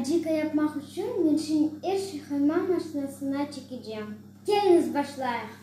Acika yapmaq içün men şimdi er şey hayman maşinasına çekecem. Keliñiz, başlayıq!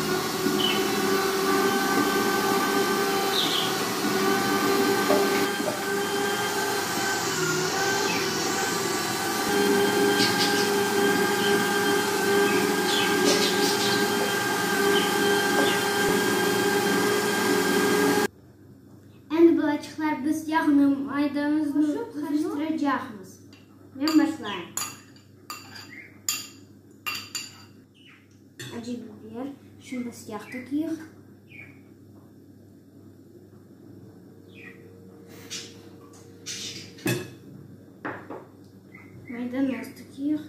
Endi balaçıqlar biz yağnı, maydanı qoşıp qarıştıracaqmız. Men başlayım. Acı biber, şimdi siyah tökeyik. Maydanoz tökeyik.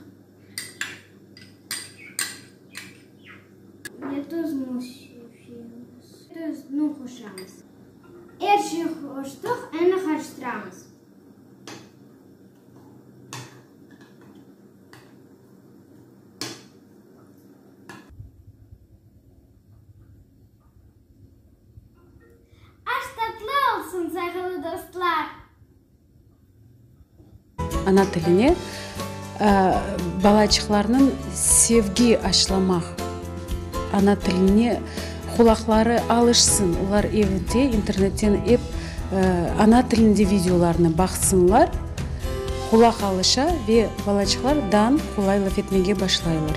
Ve tuzunu sepemiz. Tuzunu qoşamız. Er şey qoştıq, endi qarıştıramız. Aş tatlı olsun sayğılı dostlar. Ana tiline balaçıqlarnıñ sevgi aşlamaq, ana tiline Qulaqları alışsın, olar evde internetten ep ana tilinde videolarnı baqsınlar, qulaq alışa ve balaçıqlar dan qolay laf etmege başlaylar.